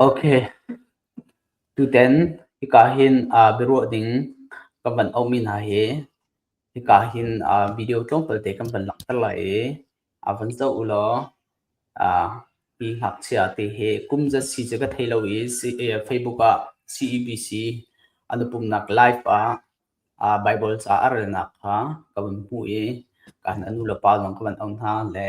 Okay, tutan hika hin ah biaruah ding kan van auhmi hna hi hika hin ah video tlawmpal te kan van langhter lai i ah van zoh u law ah mi ngakchia te hi kum zat si cu ka thei lo i Facebook ah CEBC an i pumhnak live ah ah Bible ca a relnak kha ka van hmuh i ka nu le pa zong ka van auh hna le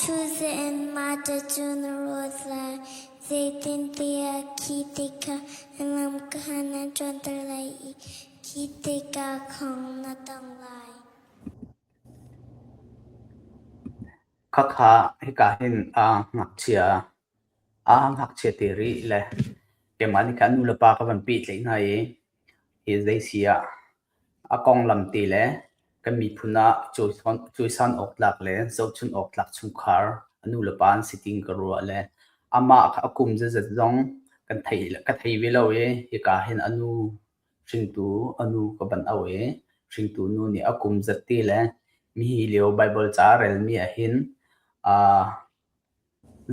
Thuze in mate cu na rawt lai, zeitintiah khi ti kha na lam kha na ṭuanter lai i khi tikah khong na tong lai. Khakha hika hin a ngakchia a ngakchia te rih le keimah nih khan nulepa ka van peh tleh hna i hi zei si ah. A konglam te le kan miphun ah cawisan awktlak le zohchunh awktlak chungkhar, a nulepa an si ting ka ruah le amah a kum zeizat zong ka thei ve lo i hika hin a nu hringtu a nu ka van auh i hringtu nu nih a kum zat te le mi hi lio Baibal ca a relmi ahhin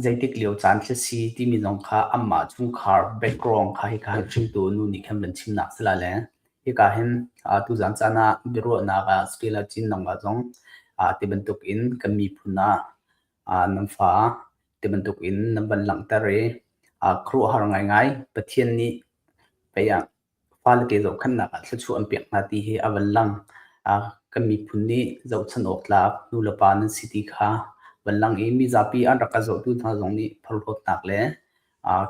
Zeitik lio caan khi a si timi zong kha anmah chungkhar background kha hika hin hringtu nu nih khin van chimnak si la le hika hin tuzan caan ah biaruahnak ah Sakila Chin nangmah zong ti bantuk in kan miphun ah nan fa ti bantuk in nan van langhter i khuaruahhar ngaingai Pathian nih pei ah fale te zohkhenhnak ah thluachuah an pek hna ti hi a van lang. kan miphun nih zohchun awktlak nu le pa nan si ti kha van lang i mi zapi an rak ka zohtu hna zong nih phorhlawtnak le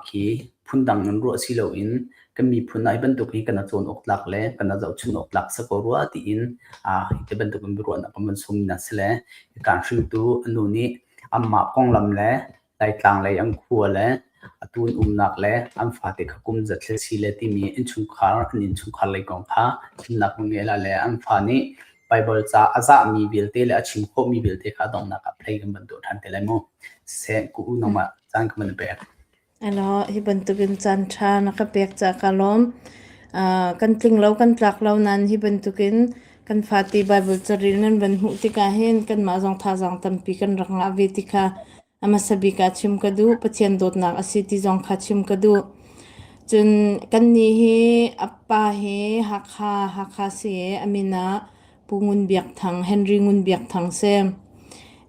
khi phundang in ruah si loin kan miphun ah hi bantuk hi kana cawn awktlak le kana zohchun awktlak sa ko rua tiin hi ti bantuk in biaruahnak kan van sawm mi hna si le kan hringtu nu nih anmah konglam le Laitlang lei an khua le atu an umnak le an fate kha kum za thil si le timi innchungkhar an innchungkhar lei kong kha chimnak ngeila le an fa nih Baibal ca a zahmi vialte le a chim khawhmi vialte kha donghnak ah phlei kan van tuah ṭhan te lai mu. Se ku u nangmah caan ka van pek. Alo, hi bantukin caan ṭha na ka pek ca ka lawm. Uh, kan tling lo kan tlak lo nan hi bantukin Kan fate Baibal caril nan van hmuh tikah hin kanmah zong thazaang tampi kan rak ngah ve ti kha a hmasa bik ah chim ka duh. Pathian dawtnak a si ti zong kha chim ka duh. Cun kannih hi a pa hi Hakha, Hakha si i a min ah Pu Ngun Biak Thang, Henry Ngun Biak Thang si.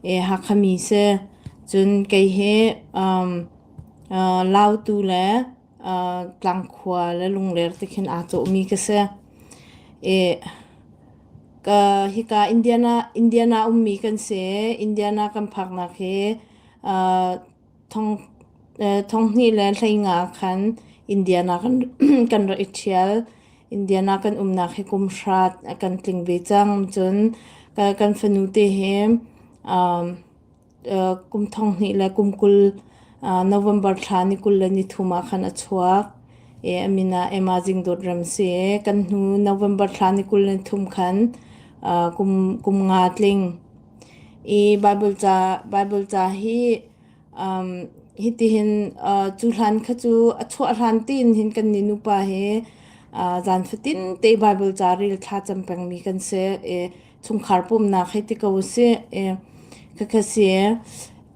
I Hakha mi si. Cun kei hi um, uh, Lautu le Tlangkhua le lungler te khin aa cawhmi ka si. Hika Indiana ummi kan si. Indiana kan phaknak hi thonghnih le hleingah khan Indiana kan rak i ṭhial. Indiana kan umnak hi kum hrat a kan tling ve cang. Cun kan fanu te hi kum thong hnih le kum kul November thla ni kul le ni thum ah khan a chuak i a min ah Emma Jingdawt Ram si i kan hnu November thla ni kul le ni thum khan kum, kum nga tling i Bible ca, Bible ca hi um, hitihin uh, cu hlan kha cu a chuah hlan tin hin kan ni nupa hi uh, zan fatin te Bible ca ril thla cam pengmi kan si i chungkhar pumnak hei ti ko sih. Eh, khakha si.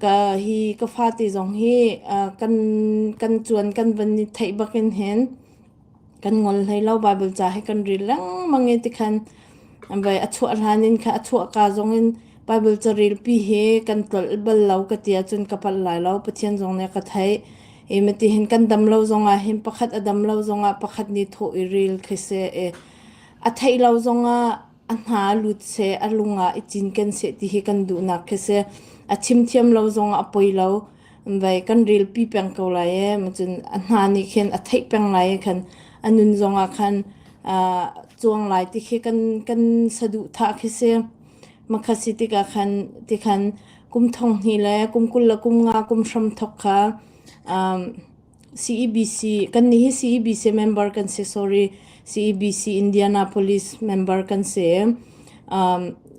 Ka hi ka fate zong hi uh, kan kan chuan kan van i theih bakin hin kan ngol hlei lo Bible ca he kan ril lengmang e ti khan bai a chuah ran in kha a chuah ka zong in Bible ca ril pi he kan tol bal lo ka tia cun ka pat lai lo Pathian zong ne ka thei e ma ti hin kan dam lo zong ah hin pakhat a dam lo zong ah pakhat ni tho i ril khe se e a thei lo zong ah A hna lut seh, a lung ah i cinken seh ti hi kan duhnak khi si. A chim thiam lo zong ah a poi lo. Vei kan rilpi peng ko lai ee. Macun a hna nih khin a theih peng lai ee khan. A nun zong ah khan aa cuang lai ti khi kan, kan saduhthah khi si. Makhasi tikah khan, tikhan kum thong hnih le kum kul le kum nga kum hram thok kha aa Kannih hi CEBC member kan si, sorry. CEBC Indianapolis member kan si.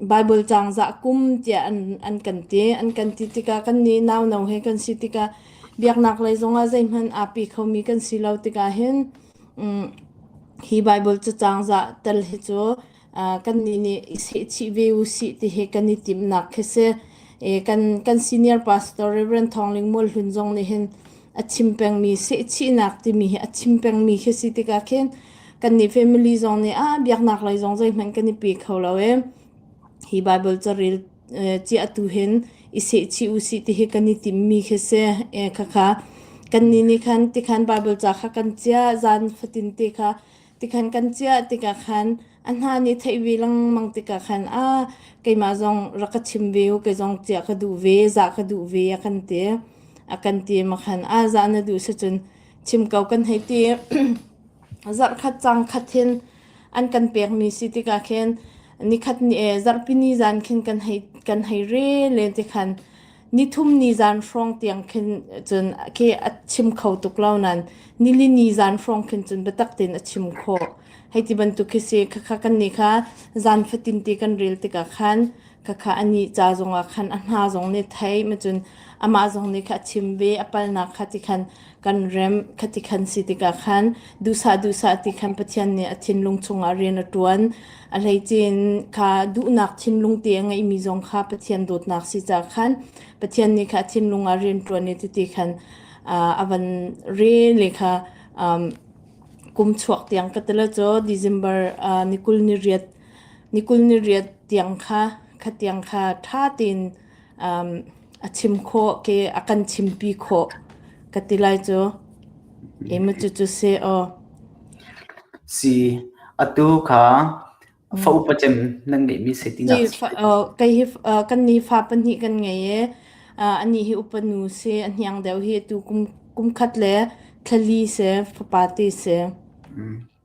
Bible cangzah kum tiah an kan ti. An kan ti tikah kannih nauno he kan si tikah biaknaklei zongah zeihmanh aapi khomi kan si lo tikah hin hi Bible cacangzah tal hi cu kannih nih i sehchih ve usih tihi kan i timnak khi si. E, kan, kan senior pastor Reverend Thawngling Mual Hlun zong nih hin a chim pengmi sehchihnak timi hi a chim pengmi khi si tikah khin kannih family zong nih a biaknak lei zong zeihmanh kan i pe kho lo e. Hi Bible caril e, chiahtu hin i sehchih usih tihi kan i timmi khi si. E, khakha kannih nih khan tikhan Bible ca kha kan chiah zan fatin te kha Tikhan kan ciah tikah khan a hna nih theih ve lengmang tikah khan a keimah zong rak ka chim ve u kei zong ciah ka duh ve zah ka duh ve a kan ti a kan ti ma khan a zah na duh si cun chim ko kan hei ti zarh khat cang khat hin an kan pekmi si tikah khin nikhat ni e zarhpini zan khin kan hei kan hei re len tikhan nithum ni zan hrawng tiang khin cun ke a chim kho tuk lo nan nili ni zan hrawng khin cun biatak tein a chim khawh hei ti bantuk khi si khakha kan ni kha zan fatin ti kan rel tikah khan khakha ani cha zongah khan a hna zong nih thei ma cun amah zong nih kha a chim ve a palnak kha ti khan kan rem khati khan si tikah khan duhsah duhsah ti khan Pathian nih a thinlung chungah rian a ṭuan a hleicin kha duhnak thinlung te a ngeimi zong kha Pathian dawtnak si ca khan Pathian nih kha thinlung ah rian ṭuan i ti khan a van re le kha kum chuak tiang ka tala cho December ni kul ni riat ni kul ni riat tiang kha khatiang kha ṭha tein a chim khawh ke a kan chimpi khawh ka ti lai cu. Ema cucu si aw. Si, atu kha fa upa cem nan ngeihmi se ti na. Si, kai hi kan ni fa pahnih kan ngei i ani hi upanu si, a hniang deuh hi tu kum khat le thla li si, fapa ti si.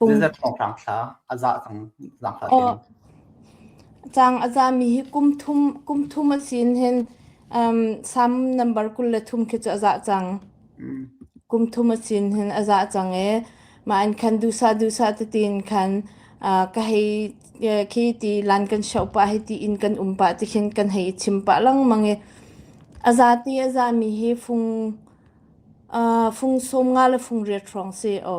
Zeizat thawnghrang thla a zah cang zangfah tein? Caang a zami hi kum thum, kum thum a sin hin um, sam number kul le thum khi cu a zah cang. Mm. Kum thum a sin hin a zah cang e. Ma in khan dusa dusa te tin khan uh, ka hei uh, khi ti lan kan shau pa hi ti in kan um pa ti khin kan hei chim pa lang mang e. A za ti a za mi hi fung uh, fung som nga le fung riat trong si o.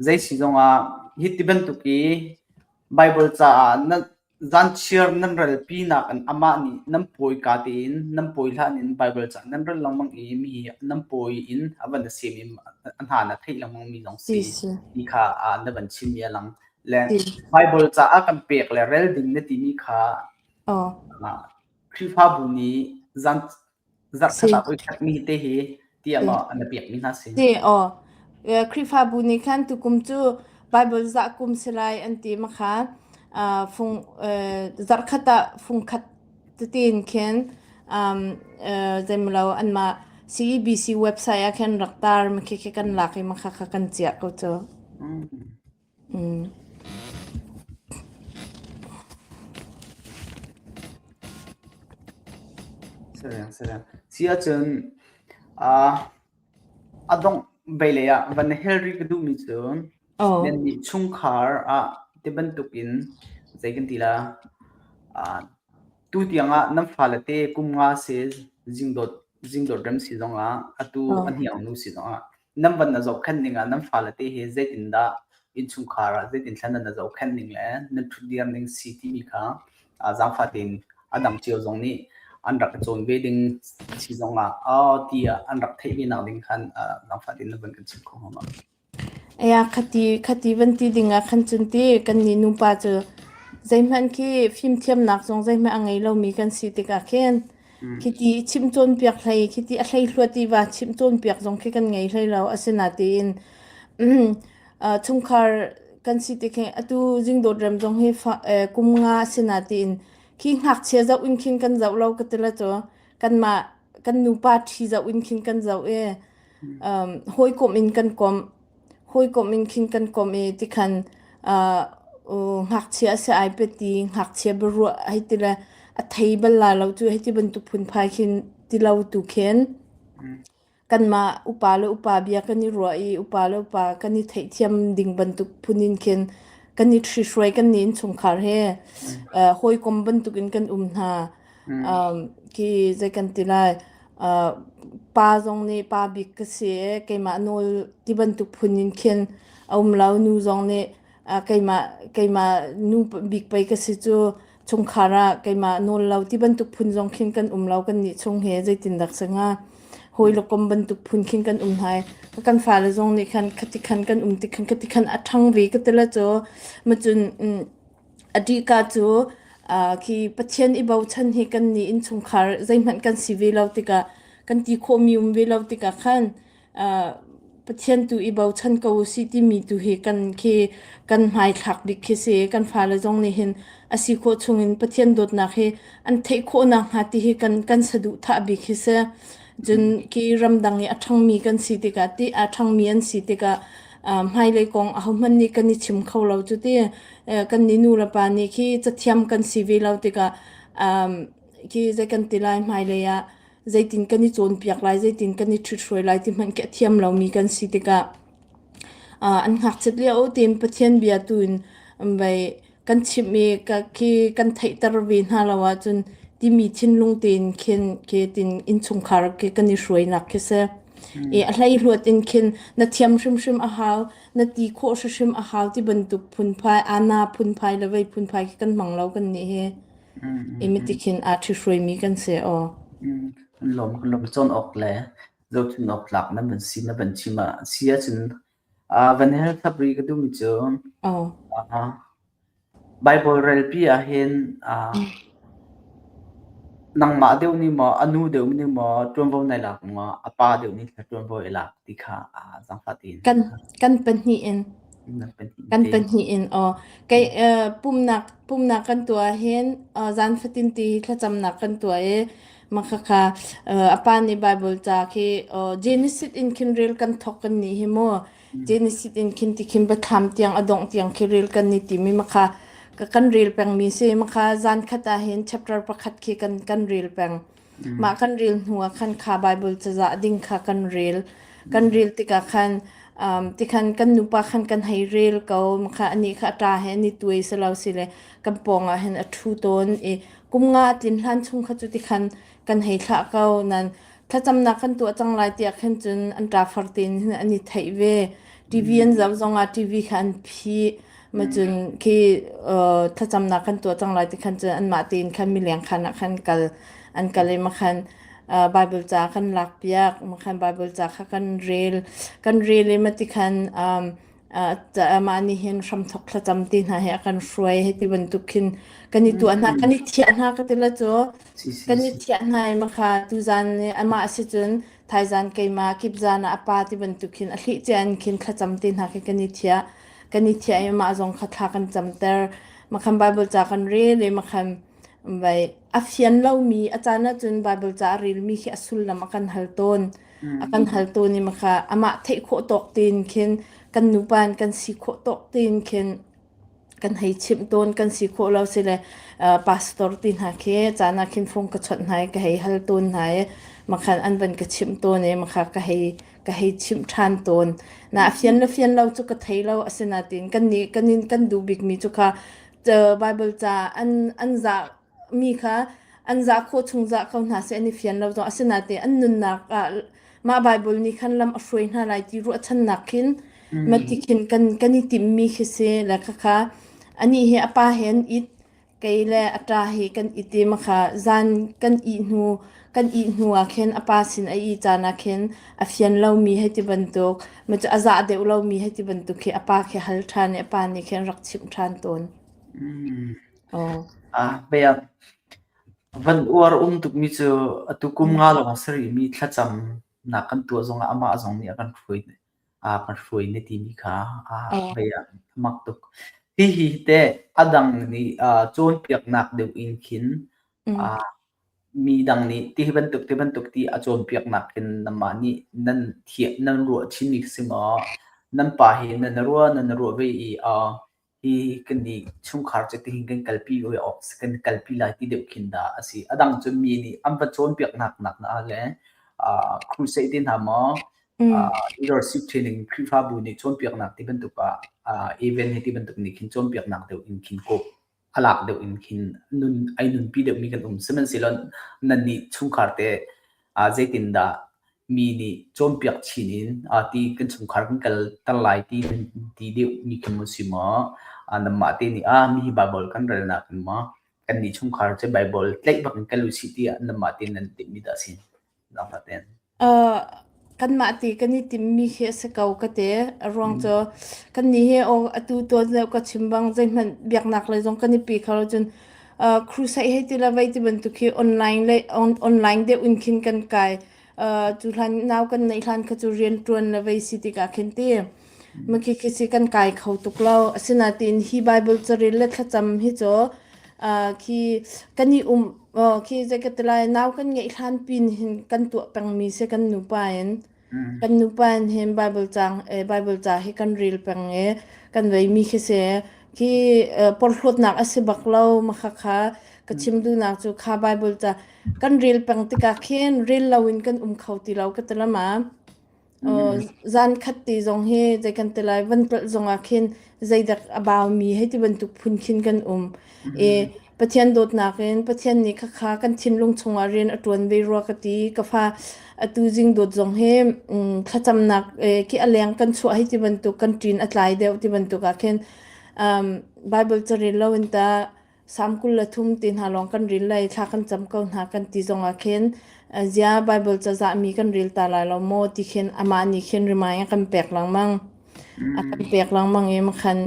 Zeisi zongah hi ti bantuk i Baibal caah na zanchiar nan ralpinak in amah nih nan pawi ka tein nan pawi hlan in Baibal caah nan rel lengmang i mi nan pawi in a van a sem i a hna na theih lengmang mi zong si ti kha na van chim i a lang. Le Baibal caah kan pek le rel ding na timi kha Khrihfabu nih zan Zarhkhatlak uikhatmi te hi tiah maw a na pekmi hna si? Si, aw. Eee, Khrihfabu nih khan tukum cu Bible zah kum si lai an ti ma kha, aa fung eee, zarhkhat ah fungkhat tetin khin, uhm, eee, zeimawh lo anmah CEBC website ah khin rak tar ma khi khi kan lak i ma kha kha kan chiah ko cu. Mmm. Siahcun a dongh veilei ah van hel rih ka duhmi cu nannih chungkhar ah ti bantukin zei kan ti la tutiang ah nan fale te kum nga si zingdawt rem si zong ah atu a hniangnu si zong ah nan van na zohkhenh ning ah nan fale te he zeitindah innchungkhar ah zeitin thlan na zohkhenh ning le nan ṭhut diam ning si timi kha zaangfah tein a dang cio zong nih an rak cawn ve ding si zong ah ti ah an rak theih ve nak ding khan zaangfah tein na van kan chim kho hama Aya khati khati van ti ding ah khan cun ti kan ni nupa cu zeihmanh khi fimthiamnak zong zeihmanh a ngei lomi kan si tikah khin Khiti chimh cawnpiak hlei, khiti a hleihluat tiva chimh cawnpiak zong khi kan ngei hlei lo. Asinain, aa chungkhar kan si tikhin atu zingdawt rem zong hi kum nga asinain khi ngakchia zoh in khin kan zoh lo ka ti la caw. Kanmah kan nupa ṭhi zoh in khin kan zoh i hawikom in kan komh. hawikom in khin kan kom i tikhan uh, ngakchia sia ai peti ngakchia biaruah hei ti le a thei bal la lo tu hei ti bantuk phunphai khin ti lo tu khen kanmah upa le upa bia kan i ruah i upa le upa kan i theihthiam ding bantuk phunin khin kan i thri hruai kan ni in chungkhar he uh, hawikom bantuk in kan um hna Um, khi zei kan ti lai. Uh, pa zong nih pa bik ka si i keimah nawl ti bantuk phun in khin a um lo. Nu zong nih uh, keimah, keimah nu bik pei ka si cu chungkhar ah keimah nawl lo ti bantuk phun zong khin kan um lo. Kan nih chung he zeitindak sa hnga. Hawi le kom bantuk phun khin kan um hai. Ka kan fale zong nih khan khati khan kan um ti khan, khati khan a ṭhang ve ka ti la caw. Macun, mm, A ṭihka cu khi Pathian i bochan hi kannih innchungkhar zeihmanh kan si ve lo tikah kan ti khawhmi um ve lo tikah khan Pathian tu i bochan ko u sih timi tu hi kan khi kan hmaithlak bik khi si. Kan fale zong nih hin a si khawh chungin Pathian dawtnak hi an theih khawhnak hnga ti hi kan kan saduhthah bik hi si. Cun khi ramdang i a ṭhangmi kan si tikah ti aa ṭhangmi an si tikah hmailei kong ahohmanh nih kan i chim kho lo cuti. kan nih nu le pa nih khi cathiam kan si ve lo tikah khi zei kan ti lai hmailei ah zeitin kan i cawnpiak lai zeitin kan i ṭhithruai lai ti hmanh khi a thiam lomi kan si tikah an ngakchiat lio tein Pathian bia tu in vei kan chimh i ka khi kan theihter ve hna lo ahcun timi thinlung tein khin ke tin innchungkhar khi kan i hruainak khi si i a hleihluat in khin na thiam hrimhrim a hau na ti khawh hrimhrim a hau ti bantuk phunphai ana phunphai le vei phunphai khi kan hmang lo kan nih hi i miti khin aa ṭhi hruaimi kan si aw lawm lawm cawn awk le zohchun awk tlak na van si na van chim ah si ahcun Van hel thlap rih ka duhmi cu Baibal relpi ahhin nangmah deuh nih maw a nu deuh nih maw ṭuanvo na i lak maw a pa deuh nih thla ṭuanvo i lak ti kha zangfahtein kan pahnih in kan pahnih in aw kei pumhnak pumhnak kan tuah ahhin zan fatin ti thlacamnak kan tuah i Makhakha uh, apa ni Bible ca khi uh, Genesis in khin rel kan thok kan ni hi mu Genesis in khin ti khin batham tiang adong tiang khi rel kan ni ti mi makha ka kan rel peng mi si makha zan khata hin chapter pakhat khi kan kan rel peng ma kan rel hnua khan kha Bible ca za ding kha kan rel kan rel tika khan um, ti khan kan nupa khan kan hei rel ko makha ani kha ta he ni tuai selo sile kan pong a hen a thu ton i kum nga a tlin hlan chung kha cu ti khan kan hei thlah ko nan thlacamnak kan tuah cang lai tiah khan cun an ṭa far tein an i theih ve TV an zoh zongah TV kha an phi ma cun khi thlacamnak kan tuah cang lai ti khan cun anmah tein khan mileng khan ah khan kal an kal i makhan Bible ca kan lak piak makhan Bible ca kha kan rel kan rel i mati khan mah nih hin hramthok thlacam ti hna hi a kan hruai hei ti bantuk khin kan i tuah hna, kan i thiah hna ka ti la cu. Si si Kan i si. thiah hna i makha tuzan i amah si cun thaizan keimah kip zan ah a pa ti bantuk khin a thli cian khin thlacam ti hna khi kan i thiah. Kan i thiah i amah zong kha thla kan camter. Makhan Bible ca kan rel i makhan vai a fian lomi a caan ahcun Bible ca a relmi khi a sullam a kan hal tawn. a kan haltu ni ma kha amah theih khawh tawk tin khin kan nupa in kan si khawh tawk tin khin kan hei chimh tawn kan si khawh lo sile uh, pastor ti hna khi cana khin phung ka chawt hna ka hei hal tun hna i makhan an ban ka chim tawn i makha ka hei ka hei chim than tawn na fian lo fian lo chu ka thei lo asina tin kan ni kan in kan du bik mi chu kha bible ca an an za mi kha an zah khawh chung zah ko hna seh an i fian lo zong asinain an nunnak ah mah Baibal nih khan lam a hruai hna lai ti ruahchannak khin ma ti khin kan kan i timmi khi si le khakha ani he apa he an it kei le a ta hi kan i te makha zan kan i hnu kan i hnu ah khin apa sin ai i caan ah khin a fian lomi hei ti bantuk ma cu a zah deuh lomi hei ti bantuk khi apa khi hal ṭhan i apa nih khin rak chimh ṭhan tawn Ah, pei ah van uar um tukmi cu atu kum nga lawng a sarihmi thlacamnak kan tuah zongah amah zong nih a kan hruai ne, a kan hruai ne timi kha a pei ah mak tuk. Hihi te a dang nih ah cawnpiaknak deuh in khin ah mi dang nih ti bantuk ti bantuk ti a cawnpiaknak hin namah nih nan thieh nan ruah chin i si maw? Nan pa hi nan ruah nan ruah ve i a Hi kan nih chungkhar cu tihin kan kalpi ve awk kan kalpi lai ti deuh khin dah a si. A dang cu mi nih an va cawnpiaknak nak na le uh, crusade ti hna maw uh, leadership training Khrihfabu nih cawnpiaknak ti bantuk ah uh, event hi ti bantuk nih khin cawnpiaknak deuh in khin ko alak deuh in khin nun ai nunpi deuh mi kan um sihmanhsehlaw nan nih chungkhar te uh, zeitin dah mi nih cawnpiak chin in ah ti kan chungkhar kan kal ter lai ti nan ti deuh mi khi maw si maw ah nanmah te nih ah mi Bible kan relnak in maw kan nih chungkhar cu Bible tlaih bak in kan lu si ti ah nanmah te nan ti mi dah sin nangmah ten kanmah ti kan i tim mi khi a si ko ka te a ruang cu kan ni he o atu tuan leu ka chim bang zeihmanh biaknak le zong kan i pi kho cun Uh, crusade hei ti la vei ti bantuk hi online le on, online de un khin kan kai uh, tu hlan naw kan nei hlan kha chu rian tuan la vei si tika khin ti ma khi khi si kan kai kho tuk lo asinatin hi bible charil le thlacam hi cho uh, khi kan i um uh, khi zekatela naw kan ngei hlan pin hin kan tu pang mi se kan nu pa in Kan nupa nih hin Baibal caang eh, Baibal ca hi kan rel peng i kan veimi khi si khi eh, porhlawtnak a si bak lo makhakha ka chim duhnak cu kha Baibal ca kan rel peng tikah khin rel loin kan um kho ti lo ka ti lama. Uh, zan khat ti zong hi zei kan ti lai van tlal zong ah khin zeidak a baumi hei ti bantuk phun khin kan um. E Pathian dawtnak in Pathian nih khakha kan thinlung chungah rian a ṭuan ve rua ka ti. Ka fa atu zingdawt zong hi mm, thlacamnak eh, khi a leng kan chuah hei ti bantuk kan ṭin a tlai deuh ti bantuk ah khin um, Bible ca ril lo in ta sam kul le thum ti hna lawng kan ril lai thla kan cam ko hna kan ti zong ah khin uh, zia Bible ca zah mi kan ril ta lai lo maw ti khin amah nih khin remind a kan pek lengmang. A kan pek lengmang i makhan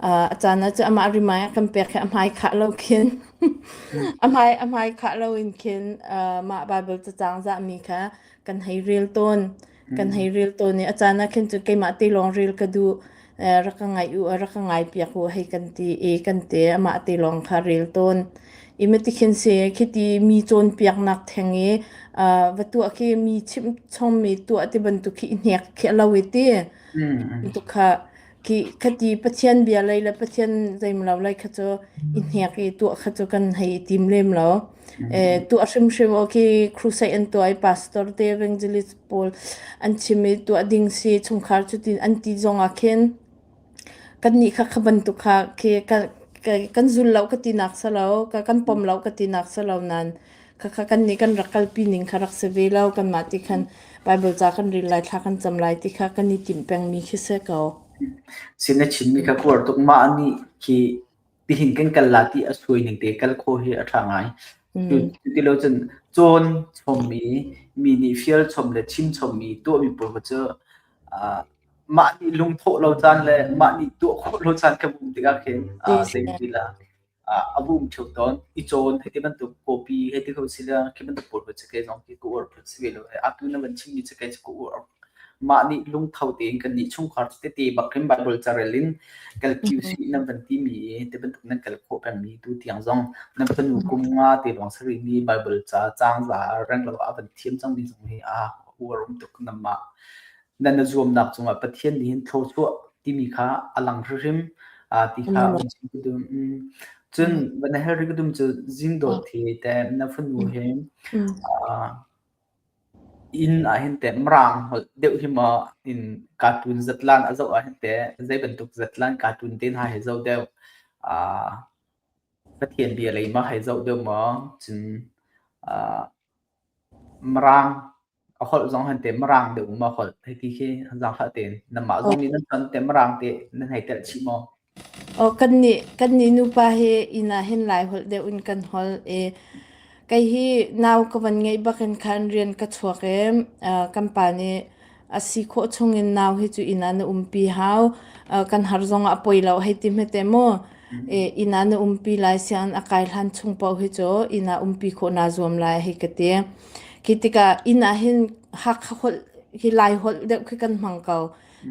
ah a caan ah cu amah rimai a kan pek hi a hmai khah lo khin a hmai a hmai khah lo in khin uh, mah Bible cacang zahmi kha kan hei rel tawn kan hei rel tawn i a caan ah khin cu keimah te lawng rel ka duh uh, rak ka ngai u a rak ka ngai piak u hei kan ti i kan te amah te lawng kha rel tawn i matikhin se khiti mi cawnpiaknak theng i uh, va tuah khi mi chimh chommi tuah ti bantuk khi i hnek khi lo i ti tu kha ki khati pathian bia lei le pathian zeimlo lai kha chu i hnek i tuah kha chu kan hei tim lem lo e tuah hrim hrim o ki crusade an tuai pastor te evangelist paul an chimi tuah ding si chungkhar chu tin an ti zong a khen kannih kha kha bantuk kha khi kan zul lo ka ti nak si lo, ka kan pom lo ka ti nak si lo nain khakha kannih kan rak kalpi ning kha rak si ve lo. Kanmah ti khan Bible ca kan rel lai, thla kan cam lai ti kha kan i timh peng mi khi si ko. Si na chim mi kha kuar tuk mah nih khi tihin kan kal la ti a suai ning te kal khaw hi a ṭha ngai. Cuti lo cun cawn chom i mi nih fial chom le chim chom i tuahmi pawl cu mah nih lungthawh lo caan le mah nih tuah khawh lo caan kan um tikah khin ah zei ti lah ah a bum theo tawn i cawn hei ti bantuk copy hei ti ko si le khi bantuk pawl pa cakei zong hi ka uar phut si ve lo he atu na van chimmi cakei cu ka uar mah nih lungtho tein kan nih chungkhar tete bak in bible carel in kal kiu si na van timi te bantuk nan kal khawh pengmi tu tiang zong na fanu kum nga te lawng sari mi bible ca cang za reng lo a van thiam cang mi zong hi a uar um tuk na mah nan na zuamnak cungah Pathian nih hin thlawchuah timi kha a lang hrimhrim ti kha um ka dum cun va na hel ri ka dum cu zingdot hi te na fanu hi inn ah hin te mrang hol deuh hi ma in cartoon zatlan a zo ah hin te zei bantuk zatlan cartoon te na hai zo deuh Pathian bia lei ma hai zo deuh ma cun Maraang a holh zong han te maraang deuh mu ma holh hei ti khi zang hlah tein. Nanmah zong nih nan ton te maraang te nan hei telh chih maw? Aw kan nih kan nih nupa hi inn ah hin Lai holh deuh in kan holh i kei hi nau ka van ngeih bak in khan rian ka chuak i kan pa nih a si khawh chungin nau hi cu inn ah na umpi hau uh, kan har zong ah poi lo hei ti hmete mu e, inn ah na umpi lai sian a kai hlan chung po hi cu inn ah umpi kho na zuam lai hei ka ti khi tika inn ah hin hak hol hi lai hol deuh khi kan hmang ko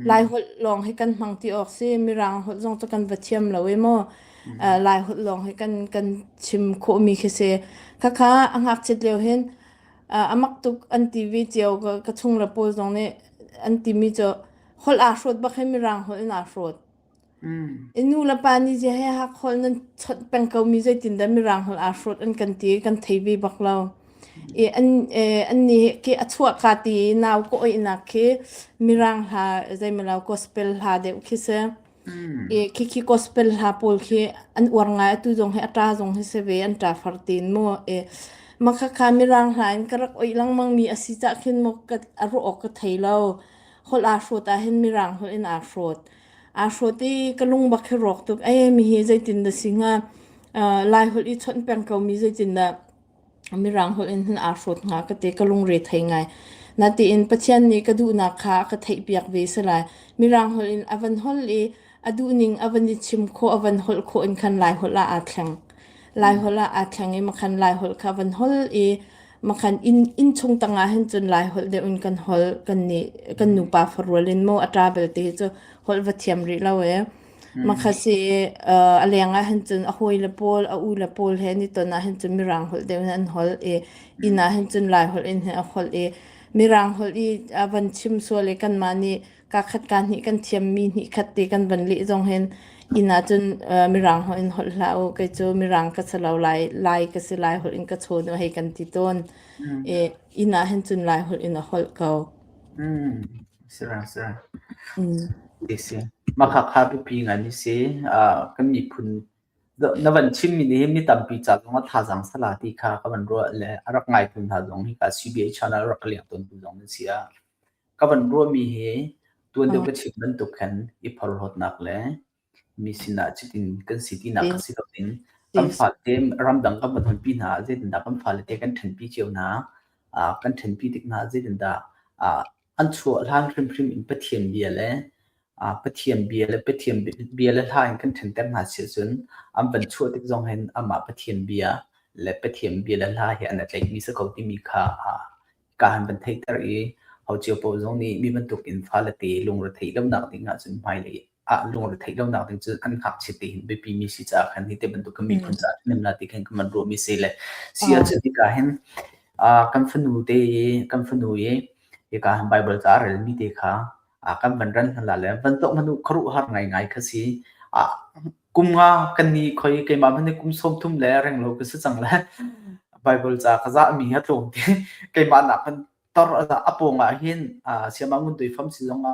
lai hol long hi kan hmang ti ok si mirang hol zong to kan va thiam lo e mo uh, lai hol long hi kan kan chim kho mi khi se khakha angak chet leo hin uh, amak tuk an ti vi cio ka ka chung le pawl zong nih an ti mi cu hol aa hrot bak he mirang hol in aa hrot Mm. i nu le pa nih je he hak hol nan chawt peng ko mi zei tin da mirang hol aa hrot an kan ti kan thei ve bak lo i an eh, an ni ke a chua ka ti nau ko oi nak khi mirang hla zeimalo gospel hla deuh khi se I Mm. khikhi gospel hla pawl khi an uar ngai atu zong hi a ṭa zong hi si ve an ṭa far tin maw e makhakha mirang hla in ka rak oih lengmang mi a si cah khin maw ka a ruah awk ka thei lo holh aa hrawt ah hin mirang holh in aa hrawt aa hrawt i ka lungbak hi rawk tuk e mi hi zeitin dah si hnga uh, lai holh i chawnh peng ko mi zeitin dah Mirang holh in hin aa hrawt hnga ka ti. Ka lungre thei ngai. Natein Pathian nih ka duhnak kha a ka theihpiak ve si lai. Mirang holh in a van holh i a duhning a van i chim khawh, a van holh khawh in khan Lai holh ah aa thleng. Lai holh ah aa thleng i makhan Lai holh kha a van holh i makhan inn inn chung tangah hin cun Lai holh deuh in kan holh. Kan nih kan nupa farual in maw a ṭa belte hi cu holh va thiam rih lo ee. Makha si uh, a leng ah hin cun a hawi le pawl, a u le pawl he an i ton ah hin cun Mirang holh deuh in an holh i inn ah hin cun Lai holh in hin a holh i Mirang holh i a van chim sual i kanmah nih kaa khat kaa hnih kan thiammi hnih khat ti kan van leh zong hin inn ah cun uh, Mirang holh in holh hlah u, kei cu Mirang ka si lo, Lai, Lai ka si, Lai holh in ka chawn u hei kan ti tawn. I inn ah hin cun Lai holh in a holh ko. Mm. Makhakha pipi ngan i si. Kan miphun na van chimmi nih hin mi tampi ca zong a thazaang sala ti kha ka van ruah le a rak ngaihtu hna zong hi ka CBA channel rak ka liak tawntu zong an si ah ka van ruahmi hi tuan deuh ka chim bantuk khan i phorhlawtnak le Mi sinah cutin kan si tinak a si lo ding. Kan fate ramdang kan va tonpi hna ah zeitindah kan falete kan ṭhenpi cio hna. Ah kan ṭhenpi tik hna zeitindah ah an chuah hlan hrimhrim in Pathian bia le ah Pathian bia le Pathian bia le hla in kan ṭhenter hna si cun an van chuah tik zong hin amah Pathian bia le Pathian bia le hla hi an i tlaihmi si ko timi kha ah ka han van theihter i hau cio paoh zong nih mi bantuk in falete lungretheih lonak ding ahcun hmailei ah lungretheih lonak ding cu an ngakchia te hin biapi mi si caah khan hi te bantuk ka miphun caah nem la ti khan ka man ruahmi si le si a cu tika hin kan fanu te kan fanu ye ika han bible ca rel mi te kha kan van ran la le van tok manu kharu har ngai ngai kha si kum nga kan ni khoi keima bane kum som thum le reng lo ka si chang le bible ca ka za mi ha tlong ti keima nak kan tor a aponga hin siama ngun dui fam si zonga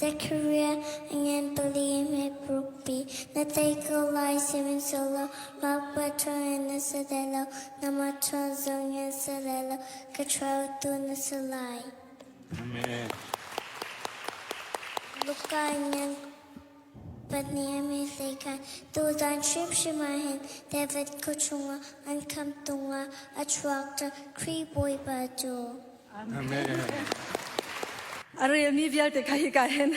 Zechariah Ngantali hmeprukpi na tei ko lai, sihmanhsehlaw makpa ṭha in na si lai lo, nangmah ṭha zong in si lai lo, ka ṭhaotu na si lai. Amen. Luka ngan pahnih a min hleikhah tuzan hrimhrim ah hin David khuachung ah an khamh tung ah a chuak ṭa Khrih Bawipa cu. A relmi vialte kha hika hin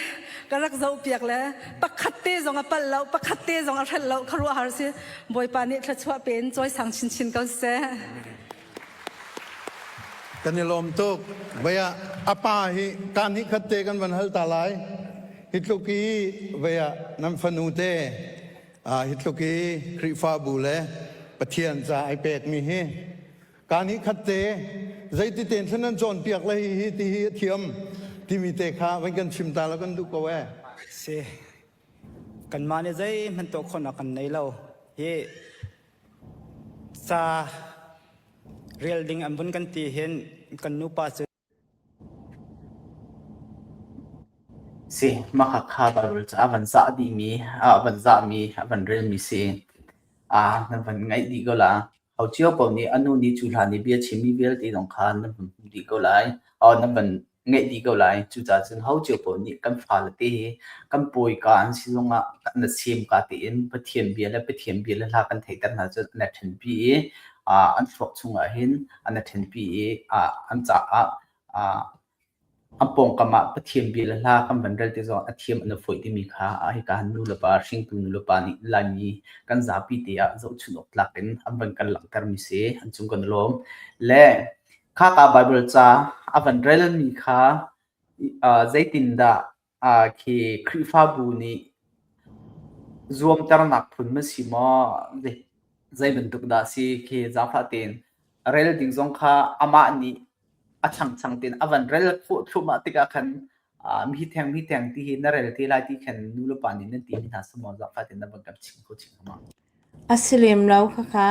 ka rak zohpiak le pakhat te zong a palh lo, pakhat te zong a hrelh lo kha ruahar si. Bawipa nih thluachuah pe in cawisang chinchin ko seh. Kan i lawm tuk. Vaya, a pa hi kan hi khat te kan van hal ta lai. Hi tluk hi vaya nan fanu te hi tluk hi Khrihfabu le Pathian ca ai pekmi hi Kaa nih khatte zeititein thlen nan cawnpiak le hihi tihi a thiam timi te kha van kan chim ta la kan duh ko ee. Si. Kanmah nih zeihman tuah khawhnak kan nei lo. Hi ca rel ding an vun kan ti hin kan nupa cu Si, Makhakha balrul cu a van zah dihmi, a van zahmi, a van relmi si. Aa na van ngaih dih ko la. Ho cio paoh nih a nu nih cu hlan i bia chimmi vialte zong kha na van hmu dih ko lai. Aw na van ngaih dih ko lai. Cucaah cun ho cio paoh nih kan fale te hi kan pawika an si zongah na siim ka tiin Pathian bia le Pathian bia le hla kan theihter hna cun an i ṭhenpi i, aa an thluak chungah hin an a ṭhenpi i an caah an pawngkam ah Pathian bia le hla kan van rel ti zong a thiam an a fawih timi kha hika nu le pa hringtu nu le pa nih Laimi kan zapi te ah zohchunh awk tlak in an van kan langhtermi si an cung kan lawm le khaka Bible ca a van relmi kha zeitindah Khi Khrihfabu nih zuamternak phun na si maw? Zeibantuk dah a si khi zaangfah tein rel ding zong kha amah nih a changchang tein a van rel thluahmah tikah khan mitheng mitheng ti hi na rel te lai ti khan nu le pa nih nan ti mi hna si maw? Zaangfah tein na van kan chim kho chin hnga maw? A si lem lo khakha.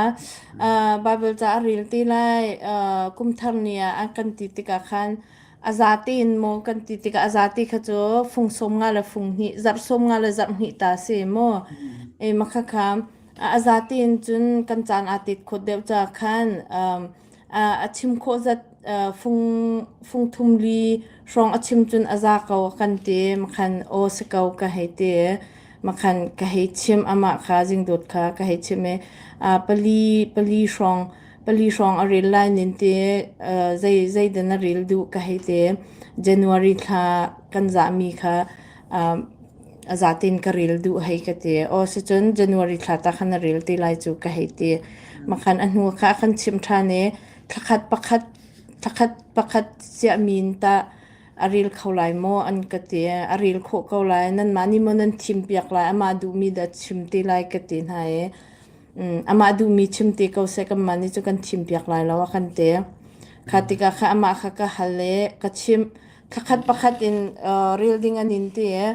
Bible ca a rel ti lai. Kum thar ni ah an kan ti tikah khan a za tein maw kan ti tikah a za ti kha cu fung sawm nga le fung hnih, zarh sawm nga le zarh hnih ta a si maw? Makhakha. A za tein cun kan caan aa tet khawt deuh caah khan a chim khawh zat fung thum li hrawng a chim cun a za ko kan ti. Makhan aw si ko ka hei ti. Makhan ka hei chim amah kha jingdut kha ka hei chim i pali pali hrawng pali hrawng a ril lai nin ti zei zeidan a ril duh ka hei ti. January thla kan zahmi kha a zatin ka ril duh hei ka ti. Aw sicun January thla ta khan na ril ti lai cu ka hei ti. Makhan a hnu kha a kan chimh ṭhan i thlakhat pakhat, thlakhat pakhat siah min tah a ril kho lai maw an ka ti. A ril khawh ko lai. Nanmah nih maw nan thimpiak lai. Amah duhmi dah chim ti lai ka ti hna i amah duhmi chim ti ko seh kanmah nih cu kan thimpiak lai lo a kan ti. Kha tikah kha amah kha ka hal i ka chimh. Thakhat pakhat in uh, reel ding an in ti e.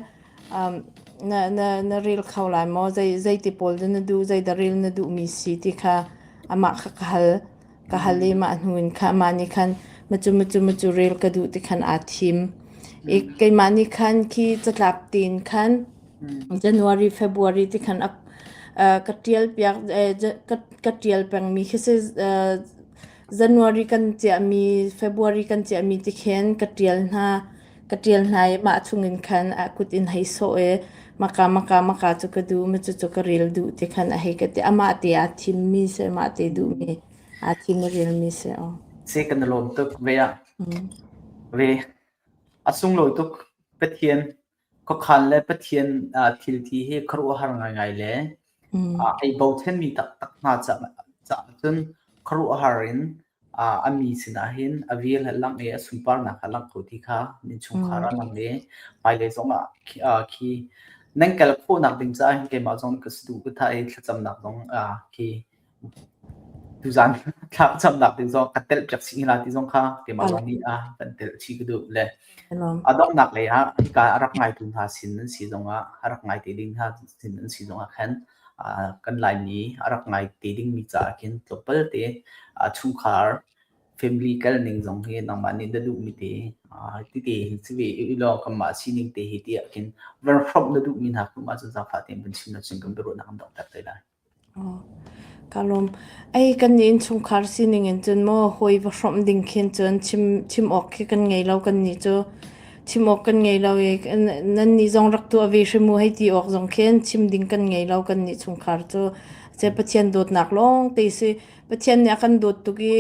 Um, na, na, na reel kho lai maw? Zei, zei ti pawl na du, zei da reel na du mi si ti kha ama ka kahal, kahal i ma hnu in kha ma ni khan machu machu machu reel ka du ti khan a thim. I keima ni khan ki catlap tin khan January, February ti khan ap, uh, ka tial piak, eh, ka, ka tial peng mi khi se uh, January kan chiahmi, February kan chiahmi ti khin ka ṭial hna. Ka ṭial hna i mah chungin khan a kut in hei sawh i maka, maka, maka cu ka duh, cucu ka rel duh ti khan a hei ka ti. Amah te aa thimmi seh, amah te duhmi, aa thim i relmi seh aw. Si kan i lawm tuk ve ah. Mm. Ve. A sunglawi tuk Pathian. Khuakhan le Pathian thilthi hi khuaruahhar ngaingai le hei bochanmi taktak hna caah cun khuaruahhar in a mi sinah hin a vir le langh i a sunparnak a langh ko ti kha min chungkhar ah lang i hmailei zongah khi nan kal khawhnak ding caah keimah zong ka saduh ka thah i thlacamnak zong khi Tuzaan thlakcamnak ding zong a telh piak si hna ti zong kha keimah zong nih a kan telh chih ka duh le a donghnak lei ah hika a rak ngaitu hna sin an si zong ah a rak ngai te ding hna sin an si zong ah khan kan Laimi a rak ngai te dingmi caah khin tluk palte chungkhar family kal ning zong hi nangmah nih na duhmi te titi si ve i law kanmah sining te hi ti ah khin verhrom na duhmi hna kong ah cun zaangfah tein kan chim na cun kan biaruahnak kan dong tak tai lai. Ka lawm. Ei kan innchungkhar sining in cun maw hawi va hrawmh ding khin cun chim awk khi kan ngei lo kan nih cu. Chim awk kan ngei lo i nan nih zong rak tuah ve hrim u hei ti awk zong khin chim ding kan ngei lo kan nih chungkhar cu. Seh Pathian dawtnak lawngte si. Pathian nih a kan dawt tuk i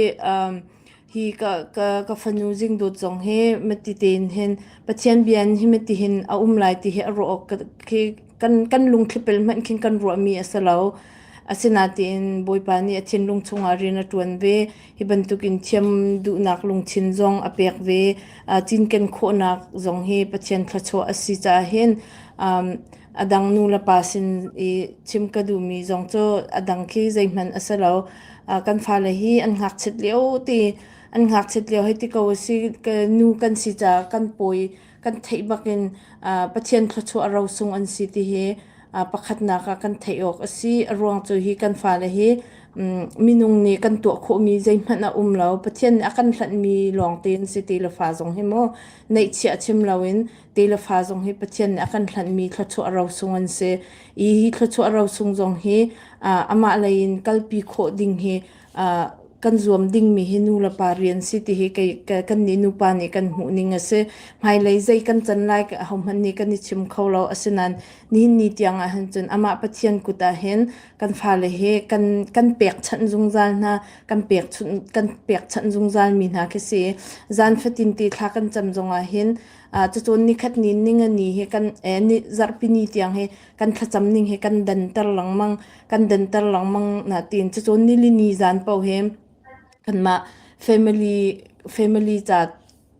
hi ka ka ka fanu zingdawt zong hi mati tein hin pathian bian hi mati hin a um lai ti hi a ruah awk khi kan kan lungthlipel hmanh khin kan ruahmi a si lo asinain bawipa nih a thinlung chungah rian a ṭuan ve hi bantukin thiam duhnak lungthin zong a pek ve cinken khawhnak zong hi pathian thluachuah a si caah hin A dang nulepa sin i chim ka duhmi zong cu a dang khi zeihmanh a si lo. Ah, kan fale hi an ngakchiat lio ti an ngakchiat lio hei ti ko a si. Ka nu kan si caah kan pawi kan theih bakin ah Pathian thluachuah a rosung an si ti hi ah pakhatnak ah kan theih awk a si. A ruang cu hi kan fale hi mm, minung nih kan tuah khawhmi zeihmanh a um lo. Pathian nih a kan hlanhmi lawng tein si ti le fa zong hi maw neihchiah chim loin Te le fa zong hi Pathian nih a kan hlanhmi thluachuah rosung an si. I hi thluachuah rosung zong hi uh, amah lei in kalpi khawh ding hi uh, kan zuam dingmi hi nu le pa rian si ti hi kei, kei, kan nih nupa nih kan hmuh ning a si. Hmailei zei kan can lai hohmanh nih kan i chim kho lo. Asinain nihin ni tiang ah hin cun amah Pathian kut ah hin kan fale hi kan, kan pekchanh zungzal hna, kan, pek, kan pekchanh zungzal mi hna khi si. Zan fatin ti thla kan cam zong ah hin Cucun nikhat ni ningani hi kan zarhpini tiang hi kan thlacam ning hi kan danter lengmang. Kan danter lengmang na tiin cucun nilini zan paoh hi kanmah family ca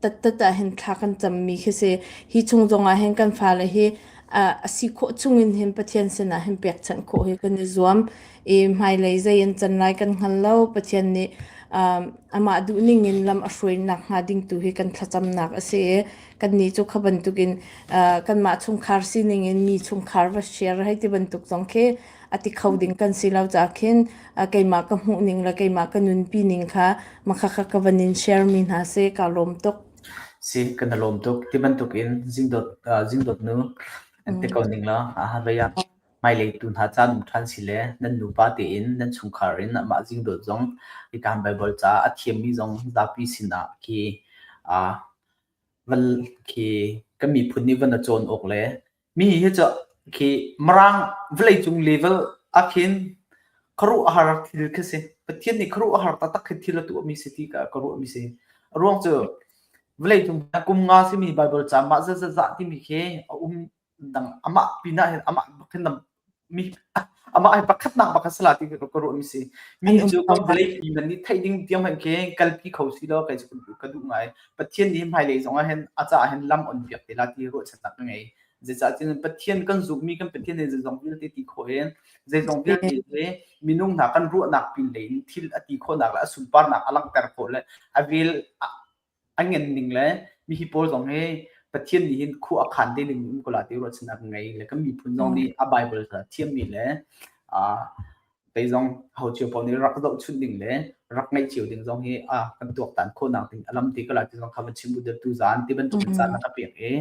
tattat ahhin thla kan cammi khi si. Hi chung zongah hin kan fale hi a si khawh chungin hin Pathian sinah hin pekchanh khawh hi kan i zuam. i hmailei zei an can lai kan hngal lo. Pathian nih amah duhning in lam a hruainak hnga ding tu hi kan thlacamnak a si i kannih cu kha bantukin kanmah chungkhar sining in mi chungkhar va share hei ti bantuk zong khi a ti kho ding kan si lo caah khin keimah ka hmuhning le keimah ka nunpi ning kha makha kha ka van in share mi hna seh kaa lawm tuk. Si kan i lawm tuk ti bantukin zingdot zingdot nu an ti ko ning la a har ve hmailei tu hna caan um ṭhan sile nan nupa tein nan chungkhar in amah zingdawt zong hika Baibal caah a thiammi zong zapi sinah khi aa van khi kan miphun nih van a cawn awk le mi hi cu khi maraang vawlei cung level akhin kharu a har thil khi si Pathian nih kharu a har taktak khi thil a tuah mi si ti ka ka ruah mi si ruang cu vawlei cung kum nga simi Baibal caang mah zat zat timi khi a um dang amah pinah hin amah bakin amah hi pakhatnak pakhat salah ti ka ruahmi si mi cu kan vawlei mi man nih theih ding tiang hman ke kalpi kho si lo kai ka duh ngai pathian nih hmailei zong ah hin a ca hin lam on piak te la ti ruahchannak ka ngei zeicah tin pathian kan zummi kan pathian ne zong vialte ti kho in zeizong vialte le minung hna kan ruahnak pin le in thil a ti khonak le a sunparnak a langhter khawh le a vel a ngan ning le mi hi pawl zong hi Pathian nih hin khu a khan te ning um ko la ti ruahchannak ngei le kan miphun zong nih a Bible kha thiammi le tei zong ho cio pawl nih rak zoh chunh ding le rak ngaih cio ding zong hi a kan tuaktan khawnak ding alam ti kala ti zong kha va chim bu tu zan ti bantuk caan na ka piak i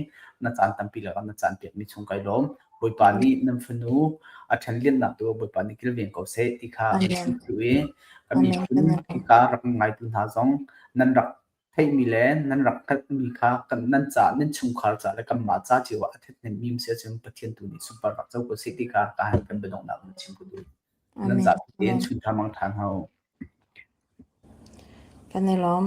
na caan tampi la na caan piak ni chung kai lom bawipa nih nan fanu a ṭhen liannak tu bawipa nih kilveng ko se ti kha tu i kami phun ka rak ngai tu hna zong nan rak theihmi le nan rak hngalhmi kha kan nan ca nan chungkhar ca le kanmah ca cio ah a ṭhethnemmi si ahcun Pathian tu nih sunpar rak co ko sih ti kha ka han kan biadonghnak na chim ko tu nan ca tein chun ṭha mang ṭhan hau kan i lawm